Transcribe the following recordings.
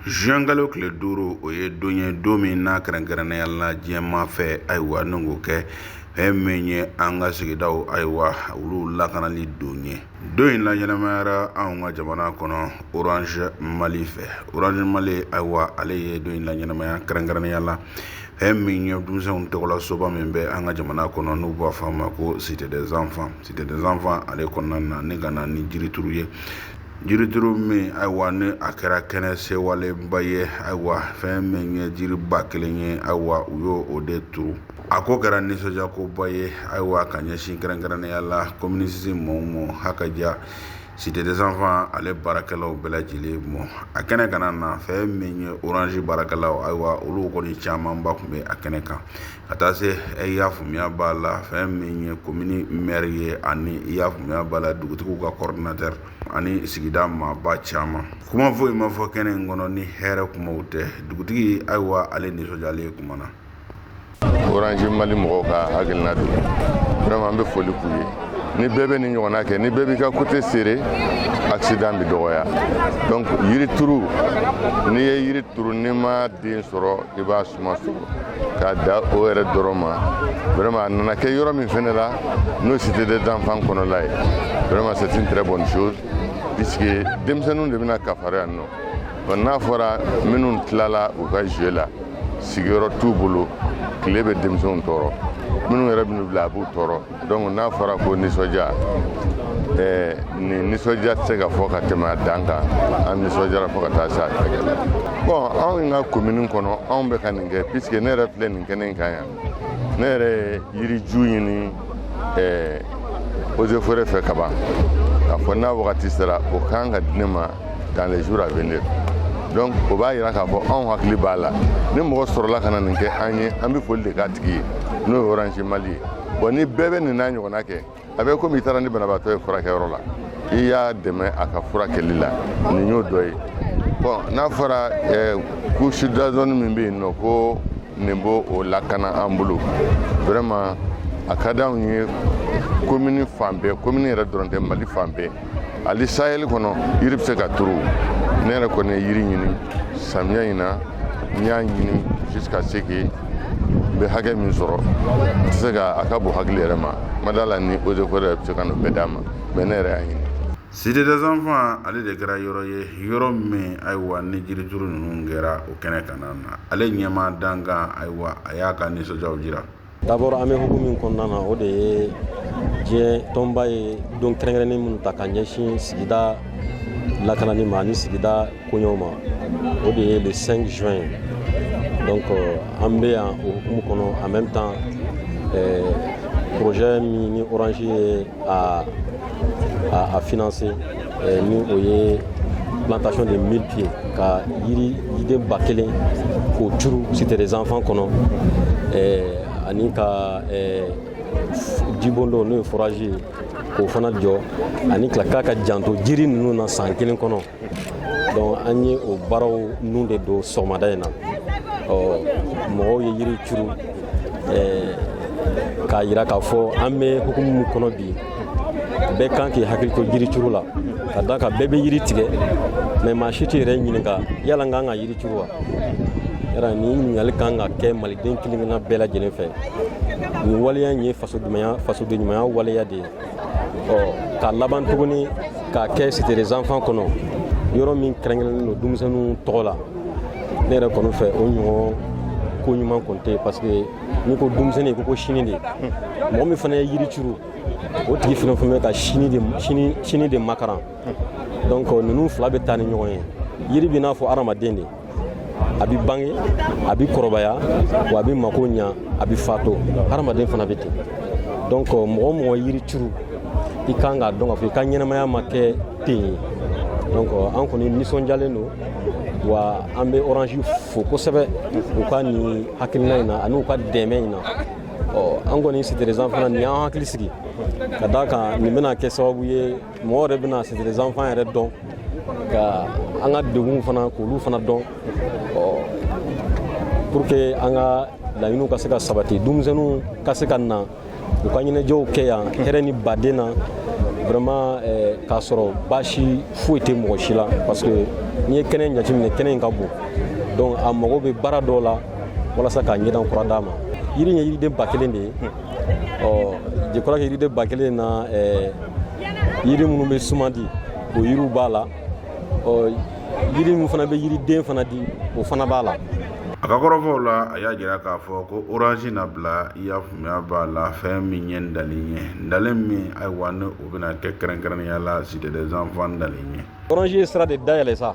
zuwɛnkalo tile duuru o ye don ye don min n'a kɛrɛnkɛrɛnnenya la diɲɛmaa fɛ ayiwa ni k'o kɛ fɛn min ye an ka sigidaw ayiwa olu lakanali don ye don in laɲɛnamayara anw ka jamana kɔnɔ orange mali fɛ orange mali ayiwa ale ye don in laɲɛnamaya kɛrɛnkɛrɛnnenya la fɛn min ye denmisɛnw tɔgɔla soba min bɛ an ka jamana kɔnɔ n'u b'a fɔ a ma ko cité des enfants cité des enfants ale kɔnɔna na ni ka na ni jirituru ye jirituru min ayiwa ni a kɛra kɛnɛ sewalenba ye ayiwa fɛn min ye jiriba kelen ye ayiwa u y'o o de turu a ko kɛra nisɔndiya koba ye ayiwa ka ɲɛsin kɛrɛnkɛrɛnnenya la commune six ma ha ka diya cité des enfants ale baarakɛlaw bɛɛ lajɛlen ma a kɛnɛ kan na fɛn min ye orange baarakɛlaw ayiwa olu kɔni camanba tun bɛ a kɛnɛ kan ka taa se i y'a faamuya b'a la fɛn min ye komini mɛri ye ani i y'a faamuya b'a la dugutigiw ka coordinateur ani sigida maaba caman kuma foyi ma fɔ kɛnɛ in kɔnɔ ni hɛrɛ kumaw tɛ dugutigi ayiwa ale nisɔndiyalen ye kumana orange mali mɔgɔw ka hakilina don vraiment an bɛ foli k'u ye ni bɛɛ bɛ ni ɲɔgɔnna kɛ ni bɛɛ b'i ka côté serré accident bɛ dɔgɔya donc yiri turu n'i ye yiri turu n'i ma den sɔrɔ i b'a suma sɔrɔ k'a da o yɛrɛ dɔrɔn ma vraiment a nana kɛ yɔrɔ min fɛnɛ la n'o cité des enfants kɔnɔla ye vraiment c'est une très bonne chose puisque denmisɛnninw de bɛna kafari yan nɔ n'a fɔra minnu tilala u ka jeu la sigiyɔrɔ t'u bolo tile bɛ denmisɛnw tɔɔrɔ minnu yɛrɛ bɛ n'u bila a b'u tɔɔrɔ donc n'a fɔra ko nisɔndiya ɛɛ nin nisɔndiya tɛ se ka fɔ ka tɛmɛ a dan kan an nisɔndiyara fo ka taa se a tɛgɛ la bon anw ka commune kɔnɔ anw bɛ ka nin kɛ puisque ne yɛrɛ filɛ nin kɛnɛ in kan yan ne yɛrɛ ye yiriju ɲini eaux et forêts fɛ kaban k'a fɔ n'a wagati sera o ka kan ka di ne ma dans les jours à venir donc o b'a yira k'a fɔ anw hakili b'a la ni mɔgɔ sɔrɔla ka na nin kɛ an ye an bɛ foli de k'a tigi ye n'o ye orange mali ye bon ni bɛɛ bɛ nin n'a ɲɔgɔnna kɛ a bɛ komi i taara ni banabaatɔ ye furakɛyɔrɔ la i y'a dɛmɛ a ka furakɛli la nin y'o dɔ ye bon n'a fɔra couche d'ozone min bɛ yen nɔ ko nin b'o o lakana an bolo vraiment a ka d'anw ye komini fan bɛɛ komini yɛrɛ dɔrɔn tɛ mali fan bɛɛ ali sahɛli kɔnɔ yiri bɛ se ka turu ne yɛrɛ kɔni ye yiri ɲini samiya in na n y'a ɲini jusqu'à ce que n bɛ hakɛ min sɔrɔ n tɛ se ka a ka bon hakili yɛrɛ ma ma d'a la ni eaux et forêts bɛ se ka n'o bɛɛ d'a ma mais ne yɛrɛ y'a ɲini Cité des enfants ale de kɛra yɔrɔ ye yɔrɔ min ayiwa ni jirituru ninnu kɛra o kɛnɛ kan na ale ɲɛmaa dankan ayiwa a y'a ka nisɔndiyaw jira D'abord an bɛ hukumu min kɔnɔna na o de ye diɲɛ tɔnba ye don kɛrɛnkɛrɛnnen minnu ta ka ɲɛsin sigida lakanani ma ani sigida koɲɛw ma o de ye le 5 juin ye donc an bɛ yan o hukumu kɔnɔ en même temps projet min ni Orange ye a a financé eh, ni o ye plantation de 1000 pieds ka yiriden ba kelen k'o turu Cité des enfants kɔnɔ eh, ani ka eh, jibondon n'o ye forage ye k'o fana jɔ ani ka k'a ka janto jiri ninnu na san kelen kɔnɔ donc an ye o baaraw nun de don sɔgɔmada in na ɔ mɔgɔw ye yiri curu k'a yira k'a fɔ an bɛ hukumu min kɔnɔ bi bɛɛ kan k'i hakili to yiri curu la ka d'a kan bɛɛ bɛ yiri tigɛ mais maa si t'i yɛrɛ ɲininka yala n kan ka yiri curu wa yala nin ɲininkali kan ka kɛ maliden kelen-kelenna bɛɛ lajɛlen fɛ nin waleya in ye fasodenɲumanya waleya de ye ɔ ka laban tuguni k'a kɛ Cité des enfants kɔnɔ yɔrɔ min kɛrɛnkɛrɛnnen don denmisɛnninw tɔgɔ la ne yɛrɛ kɔni fɛ o ɲɔgɔn ko ɲuman kɔni tɛ parce que n'i ko denmisɛnnin i ko ko sini de mɔgɔ min fana ye yiri turu o tigi fana fana bɛ ka sini de makaran donc ninnu fila bɛ taa ni ɲɔgɔn ye yiri bɛ n'a fɔ hadamaden de a bɛ bange a bɛ kɔrɔbaya wa a bɛ mako ɲa a bɛ fato hadamaden fana bɛ ten donc euh, mɔgɔ o mɔgɔ yiri turu i kan k'a dɔn k'a fɔ i ka ɲɛnamaya ma kɛ ten ye donc euh, an kɔni nisɔndiyalen don wa an bɛ Orange fo kosɛbɛ u ka nin hakilina in na ani u ka dɛmɛ in na ɔ an kɔni Cité des enfants na nin y'an hakili sigi ka d'a kan nin bɛna kɛ sababu ye mɔgɔ yɛrɛ bɛna Cité des enfants yɛrɛ dɔn ka an ka degunw fana k'olu fana dɔn pour que an ka laɲiniw ka se ka sabati denmisɛnninw ka se ka na u ka ɲɛnajɛw kɛ yan hɛrɛ ni baden na vraiment eh, k'a sɔrɔ baasi foyi tɛ mɔgɔ si la parce que n'i ye kɛnɛ in jateminɛ kɛnɛ in ka bon donc a mago bɛ baara dɔw la walasa k'a ɲɛda kura d'a ma yiri ye yiriden ba kelen de ye ɔ je crois que yiriden ba kelen na eh, yiri minnu bɛ suma di o yiriw b'a la ɔ yiri min fana bɛ yiriden fana di o fana b'a la a ka kɔrɔfɔw la a y'a jira k'a fɔ ko orange na bila i y'a faamuya b'a la fɛn min ye n dalen ye n dalen min ayiwa ni o bɛna kɛ kɛrɛnkɛrɛnnenya la cité des enfants n dalen ye orange ye sira de dayɛlɛ sa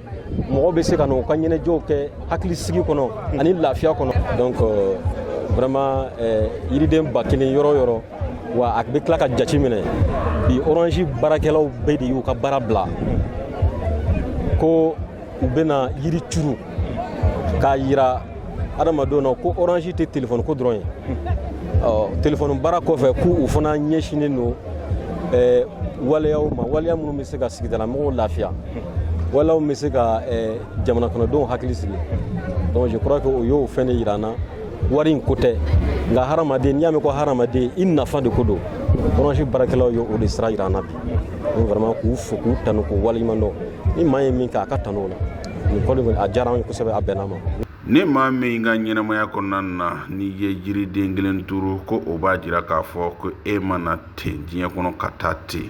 mɔgɔ bɛ se ka n'u ka ɲɛnajɛw kɛ hakilisigi kɔnɔ ani lafiya kɔnɔ donc euh, vraiment euh, yiriden ba kelen yɔrɔ yɔrɔ wa a bɛ tila ka jate minɛ bi orange baarakɛlaw bɛɛ de y'u ka baara bila ko u bɛna yiri turu k'a yira adamadenw na ko orange tɛ telefɔni ko dɔrɔn ye telefɔni baara kɔfɛ k'u fana ɲɛsinnen don waleyaw ma waleya minnu bɛ se ka sigidalamɔgɔw lafiya waleyaw bɛ se ka eh, jamana kɔnɔdenw hakili sigi donc je crois que o y'o fɛn de jira an na wari in ko tɛ nka hadamaden n'i y'a mɛn ko hadamaden i nafa de ko don orange baarakɛlaw ye o de sira jira an na bi donc vraiment k'u fo k'u tanu k'u waleɲuman dɔn ni maa ye min kɛ a ka tanu o la nin kɔni kɔni a diyara an ye kosɛbɛ a bɛnna ma ni maa min ka ɲɛnamaya kɔnɔna na n'i ye jiriden kelen turu ko o b'a jira k'a fɔ ko e ma na ten diɲɛ kɔnɔ ka taa ten